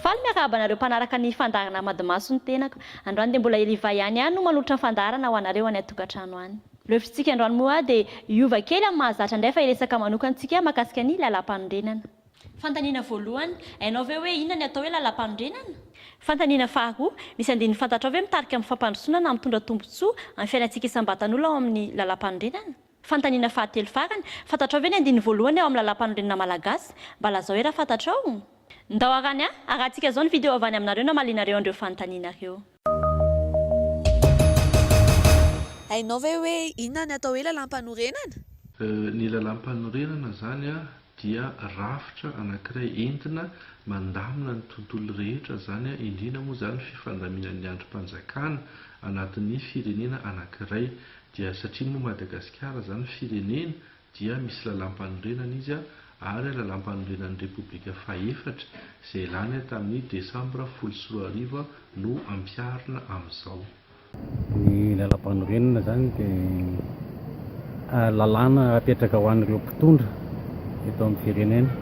Faly miarahaba anareo mpanaraka ny fandaharana Hamadimaso ny tenako. Androany dia mbola i Riva ihany aho no manolotra ny fandaharana ho anareo any an-tokantrano any. Ireo hevitritsika androany moa dia hiova kely amin'ny mahazatra indray fa hiresaka manokantsika mahakasika ny Lalàmpanorenana. Fanontaniana voalohany, Hainao ve hoe inona ny atao hoe lalampanorenana? Fanontaniana faharoa, Misy andininy fantatrao ve mitarika amin'ny fampandrosoana na mitondra tombontsoa amin'ny fiainantsika isam-batan'olona ao amin'ny lalampanorenana? Fanontaniana fahatelo farany, Fantatrao ve ny andininy voalohany ao amin'ny lalampanorenana malagasy? Mba lazao ery raha fantatrao. Ndao arany a! Arahantsika izao ny video avy any aminareo namalianareo an'ireo fanontaniana ireo. Hainao ve hoe inona ny atao hoe lalampanorenana? Ny lalampanorenana izany dia rafitra anankiray entina mandamina ny tontolo rehetra izany, indrindra moa izany ny fifandaminan'ny andrim-panjakana anatin'ny firenena anankiray. Dia satria moa Madagasikara izany firenena dia misy Lalàmpanorenana izy ary Lalàmpanorenan'ny Repoblika fahefatra izay lany tamin'ny Desambra folo sy roa arivo no ampiharina amin'izao. Ny Lalàmpanorenana izany dia lalàna apetraka ho an'ireo mpitondra eto amin'ny firenena.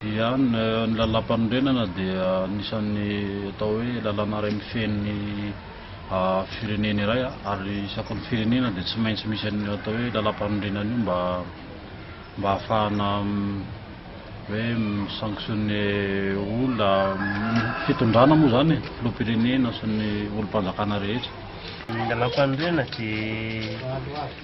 Ia, ny Lalàmpanorenana dia anisan'ny atao hoe lalàna iray mifehy ny firenena iray ary isaky ny firenena dia tsy maintsy misy an'io atao hoe lalàmpanorenana io mba mba ahafahana hoe mi-sanctionner olona, fitondrana moa izany e, filoham-pirenena sy ny olom-panjakana rehetra. Ny Lalàmpanorenana dia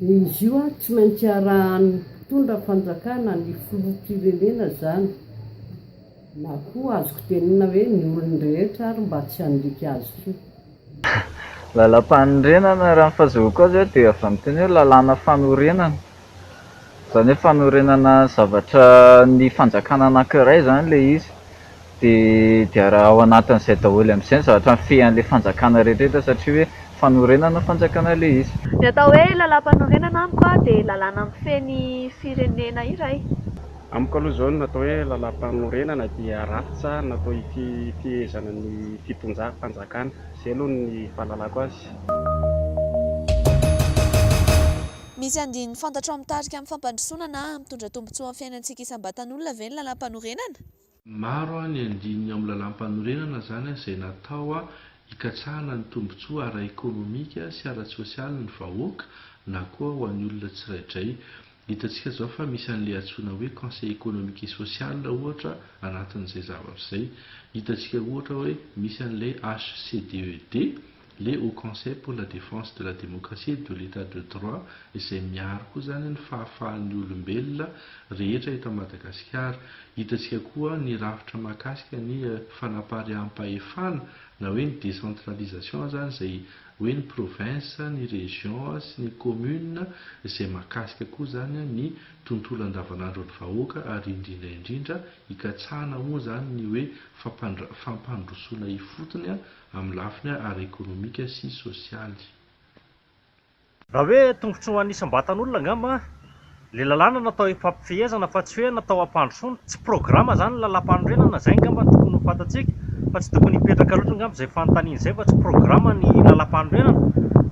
Izy io ary tsy maintsy arahan'ny mpitondra fanjakana ny filoham-pirenena izany na koa azoko tenenina hoe ny olon-drehetra ary mba tsy handika azy io. Lalàmpanorenana, raha ny fahazahoako azy dia avy amin'iteny hoe lalàna fanorenana, Izany hoe fanorenana zavatra ny fanjakana anankiray izany ilay izy dia dia raha ao anatin'izay daholo amin'izay ny zavatra mifehan'ilay fanjakana rehetrarehetra satria hoe fanorenana fanjakana ilay izy. Ny atao hoe lalàmpanorenana amiko dia lalàna mifehy ny firenena iray. Amiko aloha izao ny atao hoe lalàmpanorenana dia rafitra natao hifehezana ny fitondram-panjakana. Izay aloha ny fahalalako azy. Misy andininy fantatrao mitarika amin'ny fampandrosoana na hampitondra tombontsoa amin'ny fiainantsika isam-batan'olona ve ny Lalàmpanorenana? Maro ny andininy ao amin'ny Lalàmpanorenana izany izay natao hikatsahana ny tombontsoa ara-ekonomika sy ara-tsosialin'ny vahoaka na koa ho an'ny olona tsiraidray. Hitantsika izao fa misy an'ilay antsoina hoe Conseil économique et social, ohatra, anatin'izay zavatra izay. Hitantsika, ohatra, hoe misy an'ilay HCDED. Le Haut Conseil pour la Défense de la Démocratie et de l'Etat de Droit izay miaro koa izany ny fahafahan'ny olombelona rehetra eto Madagasikara. Hitantsika koa ny rafitra mahakasika ny fanapariaham-pahefana na hoe ny décentralisation izany izay hoe ny province, ny région sy ny commune izay mahakasika koa izany ny tontolo andavanandron'ny vahoaka ary indrindra indrindra hikatsahana moa izany ny hoe fampandrosoana ifotony amin'ny lafiny ara-ekonomika sy sosialy. Raha hoe tombontsoan'ny isam-batan'olona angamba ilay lalàna natao hifampifehezana fa tsy hoe natao hampandrosoana, tsy programa izany ny lalàmpanorenana, izay angamba no tokony ho fantatsika fa tsy tokony hipetraka loatra angamba izay fanontaniana izay fa tsy programa ny lalàmpanorenana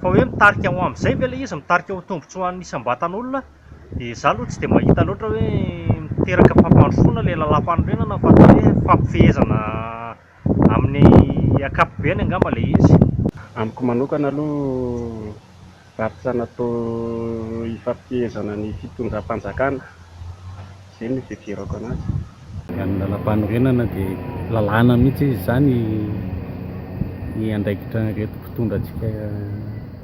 fa hoe mitarika ho amin'izay ve ilay izy, mitarika ho tombontsoan'ny isam-batan'olona dia za aloha tsy dia mahita loatra hoe miteraka fampandrosoana ilay lalàmpanorenana fa atao hoe fampifehezana Amin'ny ankapobeny angamba ilay izy. Amiko manokana aloha varotra natao hifampihezana ny fitondram-panjakana, izay no ifidirako anazy. Ny amin'ny lalàmpanorenana dia lalàna mihitsy izy izany ny andraikitran'ireto mpitondra antsika.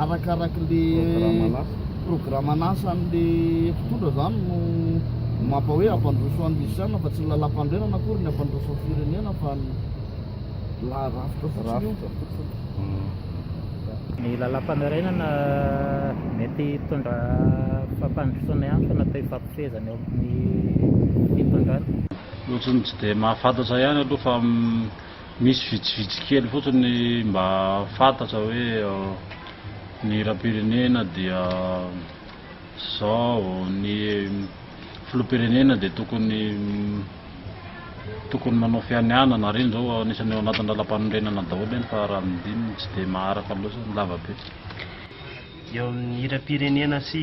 arakarak'le programan'asan'le mpitondra zany no mampa hoe ampandroso an'ny musician fa tsy ny lalam-panorenana akory ny ampandroso ny firenena fa ny la rafitra fotsiny ny lalam-panorenana mety hitondra fampandrosoana ihany fa natao hifampifehezana eo amin'ny fitondrana ohatrany tsy dia mahafantatra ihany aloha fa Misy vitsivitsy kely fotsiny ny mba fantatra hoe ny hiram-pirenena dia zao, ny filoham-pirenena dia tokony tokony manao fianianana ary iny zao anisany ao anatin'ny lalam-panorenana daholo iny fa raha ny dininy tsy dia maharaka loatra ny lava-pety. Eo amin'ny hiram-pirenena sy.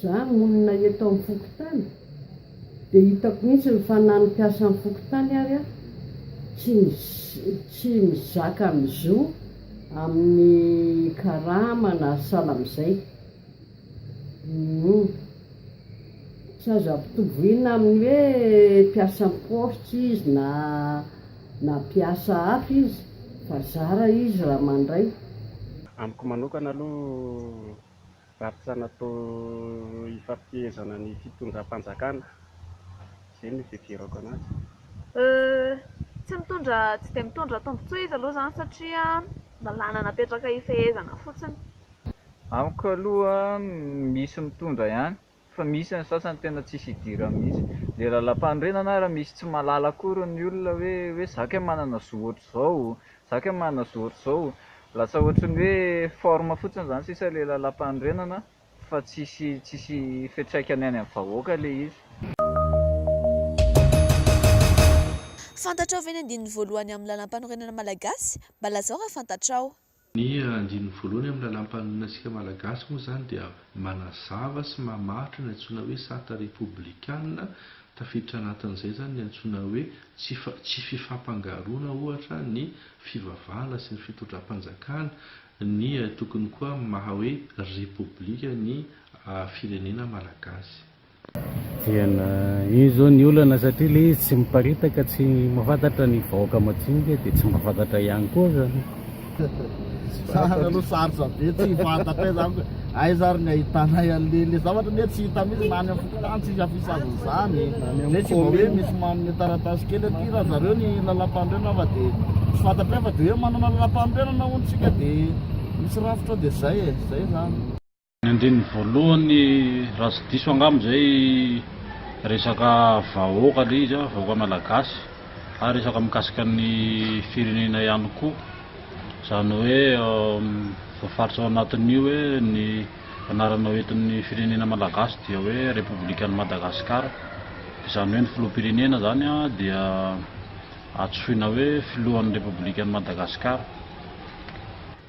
Za monina eto am fokontany de hitako mihitsiny fa na ny mpiasa am fokontany ary a tsy tsy mizaka ny zo aminy karama na sahala amizay humm tsy azo ampitoboina aminy hoe mpiasa am poste izy na na mpiasa hafa izy fa zara izy ra mandray. Amiko manokana aloha Varotra natao hifampifehezana ny fitondram-panjakana, izay no ifidirako anazy. Tsy mitondra, tsy dia mitondra tombontsoa izy aloha izany satria lalàna napetraka hifehezana fotsiny. Amiko aloha misy mitondra ihany fa misy ny sasany tena tsisy idirany mihitsy, le lalampanorenana ary misy tsy mahalala akory ny olona hoe hoe za kay manana zo ohatr'izao, za kay manana zo ohatr'izao, lasa ohatry ny hoe forme fotsiny zany sisa le lalampanorenana fa tsisy tsisy fiatraikany any amin'ny vahoaka le izy. Fantatrao ve ny andininy voalohany amin'ny lalampanorenana malagasy? Mba lazao raha fantatrao. Ny andininy voalohany amin'ny Lalàmpanorenantsika Malagasy moa izany dia manazava sy mamaritra ny antsoina hoe Sarta Repoblikana, tafiditra anatin'izay izany ny antsoina hoe tsy tsy fifampangaroana ohatra ny fivavahana sy ny fitondram-panjakana, ny tokony koa maha hoe Repoblika ny firenena Malagasy. Diana, iny izao ny olana satria ilay izy tsy miparitaka, tsy mahafantatra ny vahoaka madinika dia tsy mahafantatra ihany koa izany. Zany aloha sarotra be, tsy fantatra izany hoe aiza ary ny ahitanay an'ilay ilay zavatra anie tsy hita mihitsy na any amin'ny fokontany tsisy afisage an'izany. Dia tsy vao hoe misy manome taratasy kely aty raha zareo ny lalam-panorenana fa dia tsy fantatray fa dia hoe manana lalam-panorenana hono tsika dia misy rafitra dia izay e, izay izany. Ny andininy voalohany raha tsy diso angamba izay resaka vahoaka ilay izy, vahoaka malagasy ary resaka mikasika ny firenena ihany koa. Izany hoe voafaritra ao anatin'io hoe ny anarana hoentin'ny firenena malagasy dia hoe Repoblikan'i Madagasikara. Izany hoe ny filoham-pirenena izany dia antsoina hoe filohan'ny Repoblikan'i Madagasikara.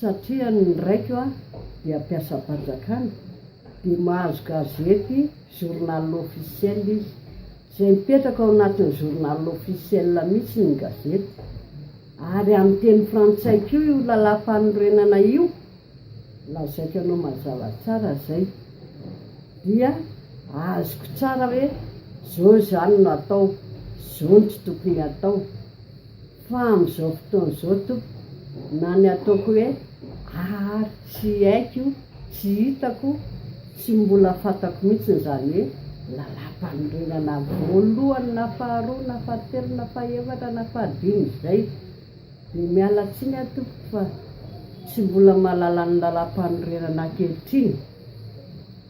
Satria ny raiko a dia mpiasam-panjakana dia mahazo gazety journal officiel izy. Izay mipetraka ao anatin'ny journal officiel mihitsy ny gazety. Ary amin'ny teny frantsay koa io lalàm-panorenana io, lazaiko anao mazava tsara izay. Dia azoko tsara hoe izao izany no atao, izao no tsy tokony atao. Fa amin'izao fotoana izao tompoko na ny ataoko hoe ary tsy haiko, tsy hitako, tsy mbola fantako mihitsy izany hoe lalàmpanorenana voalohany na faharoa na fahatelo na fahefatra na fahadimy izay. Dia miala tsiny aho tompoko fa tsy mbola mahalala ny lalàmpanorenana ankehitriny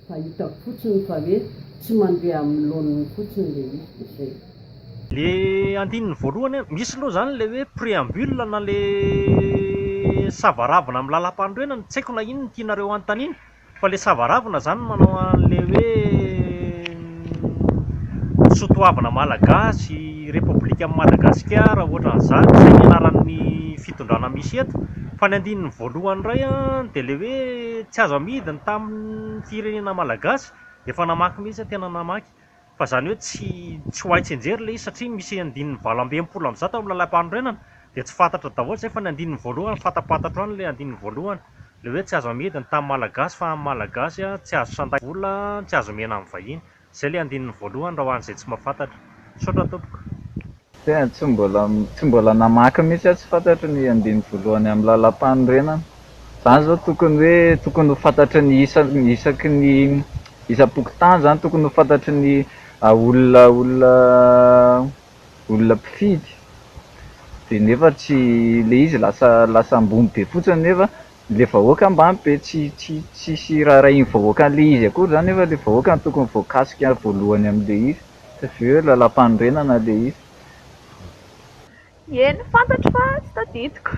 Fa hitako fotsiny fa hoe tsy mandeha amin'ny laoniny fotsiny ilay izy dia zay. Le andininy voalohany an, misy aloha zany le hoe préambule na le savaravina amin'ny lalam-panorenana, tsy haiko na inn no tianareo hanontaniana, fa le savaravina zany manao an'le hoe ny soatoavina malagasy, repoblikan'i Madagasikara, ohatran'izany, zay ny anaran'ny fitondrana misy eto, fa ny andininy voalohany indray an dia le hoe tsy azo amidiny tamin'ny. ny firenena malagasy dia efa namaky mihitsy aho tena namaky fa izany hoe tsy tsy ho hay tsianjery ilay izy satria misy andininy valo amby enimpolo amby zato amin'ny lalampanorenana dia tsy fantatra daholo izay fa ny andininy voalohany fantapantatro ihany ilay andininy voalohany ilay hoe tsy azo amidy ny tany malagasy fa amin'ny malagasy tsy azo sandray vola tsy azo omena amin'ny vahiny Izay le andininy voalohany raha ho an'izay tsy mahafantatra. Misaotra tompoko. Tena tsy mbola tsy mbola namaky mihitsy aho tsy fantatro ny andininy voalohany amin'ny lalampanorenana. Zany izao tokony hoe tokony ho fantatry ny isa isaky ny isam-pokontany zany tokony ho fantatry ny olona olona olona mpifidy de nefa tsy le izy lasa lasa ambony be fotsiny nefa le vahoaka mba be tsy tsy tsisy raharahian'ny vahoaka an'le izy akory zany nefa le vahoaka no tokony voakasika voalohany amin'le izy fa avy eo lalampanorenana le izy. Eny fantatro fa tsy tadidiko.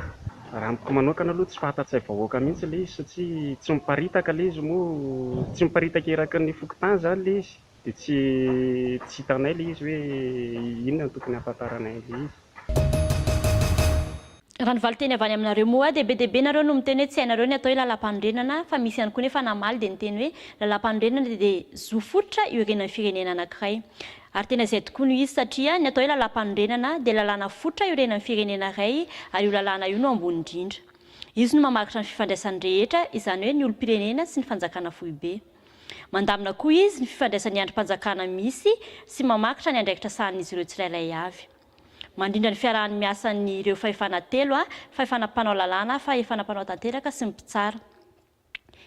Raha amiko manokana aloha tsy fahatantsay vahoaka mihintsy le izy satsia tsy miparitaka le izy moa tsy miparitaka eraky ny fokontany zany le izy. Dia tsy tsy hitanay ilay izy hoe inona no tokony hahafantaranay an'ilay izy. Raha ny valinteny avy any aminareo moa dia be dia be nareo no miteny hoe tsy hainareo ny atao hoe lalampanorenana fa misy ihany koa nefa namaly dia niteny hoe lalampanorenana dia zo fototra iorenan'ny firenena anankiray. Ary tena izay tokoa no izy satria ny atao hoe lalampanorenana dia lalàna fototra iorenan'ny firenena iray ary io lalàna io no ambony indrindra. Izy no mamaritra ny fifandraisan'ny rehetra izany hoe ny olom-pirenena sy ny fanjakana foibe. Mandamina koa izy ny fifandraisan'ny andrim-panjakana misy sy mamakitra ny andraikitra sahanin'izy ireo tsirairay avy. Mandrindra ny fiarahany miasa ny ireo fahefana telo, fahefana mpanao lalàna, fahefana mpanao tanteraka sy ny mpitsara.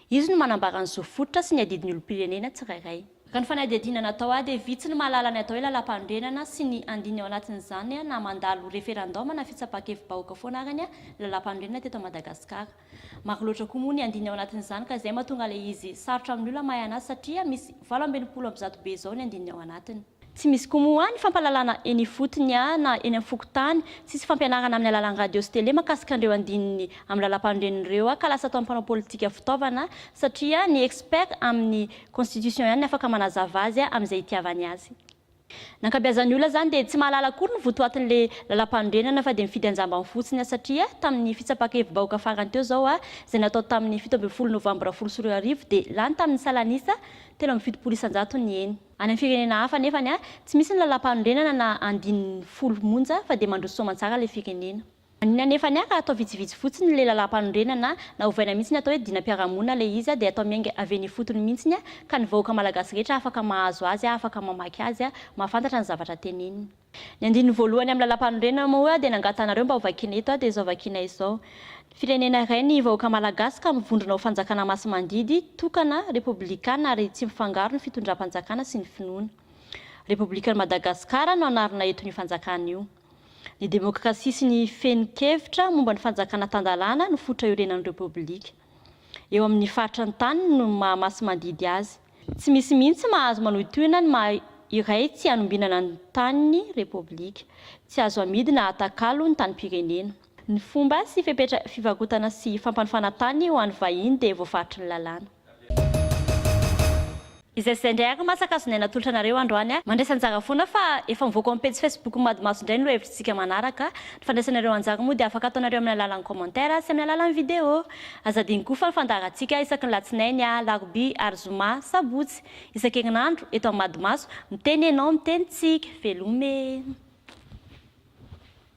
Izy no manambara ny zo fototra sy ny adidin'ny olom-pirenena tsirairay. Raha ny fanadihadiana natao ahy dia vitsy ny mahalala ny atao hoe lalampanorenana sy ny andininy ao anatin'izany na mandalo referandaoma na fitsapan-kevi-bahoaka foana ary ny lalampanorenana teto Madagasikara. Maro loatra koa moa ny andininy ao anatin'izany ka izay mahatonga ilay izy sarotra amin'ny olona mahay an'asa satria misy valo amby enimpolo amby zato be izao ny andininy ao anatiny. Tsy misy koa moa ny fampahalalana eny ifotony na eny amin'ny fokontany, tsisy fampianarana amin'ny alalan'ny radio sy tele mahakasika an'ireo andininy amin'ny lalam-panorenana ireo ka lasa ataon'ny mpanao politika fitaovana satria ny expert amin'ny constitution ihany ny afaka manazava azy amin'izay itiavany azy. Ny ankabeazan'ny olona izany dia tsy mahalala akory ny votoatin'ilay Lalampanorenana fa dia mifidy an-jambany fotsiny satria tamin'ny fitsapaka hevi-bahoaka farany teo izao izay natao tamin'ny fito ambin'ny folo novambra folo sy roa arivo dia lany tamin'ny salan'isa telo amby fitopolo isan-jato ny eny Any amin'ny firenena hafa anefany, tsy misy ny Lalampanorenana na andininy folo monja fa dia mandroso soamantsara ilay firenena. Ny anefa ny ara atao vitsivitsy fotsiny le lalampanorenana na ovaina mihitsy ny atao hoe dinam-piarahamonina le izy de atao miainga avy eny ifotony mihitsy ka ny vahoaka malagasy rehetra afaka mahazo azy afaka mamaky azy mahafantatra ny zavatra teneniny. Ny andininy voalohany amin'ny lalampanorenana moa dia nangatahanareo mba hovakiana eto dia izao vakiana izao, Firenena iray ny vahoaka malagasy ka mivondrona ho fanjakana masimandidy, tokana, repoblikana ary tsy mifangaro ny fitondram-panjakana sy ny finoana. Repoblikan'i Madagasikara no anarina eto an'io fanjakana io. Ny demokrasia sy ny fehin-kevitra momba ny fanjakana tan-dalàna no fototra iorenan'ny Repoblika. Eo amin'ny faritry ny taniny no maha masi-mandidy azy. Tsy misy mihitsy mahazo manohitohina ny maha iray tsy hanombinana ny tanin'ny Repoblika. Tsy azo amidy na atakalo ny tanim-pirenena. Ny fomba sy fepetra fivarotana sy fampanofana tany ho an'ny vahiny dia voafaritry ny lalàna. Izay sy izay indray ary mantsy ankazo nay natolotra anareo androany a! Mandraisa anjara foana fa efa mivoaka ao amin'ny pejy Facebook Madimaso indray ny lohahevitritsika manaraka. Ny fandraisana ireo anjara moa dia afaka ataonareo amin'ny alalan'ny commentaire sy amin'ny alalan'ny video. Aza adino koa fa ny fandaharantsika isaky ny latsinainy, alarobia ary zoma, sabotsy. Isan-kerinandro, eto amin'ny Madimaso, miteny ianao, miteny tsika. Veloma e!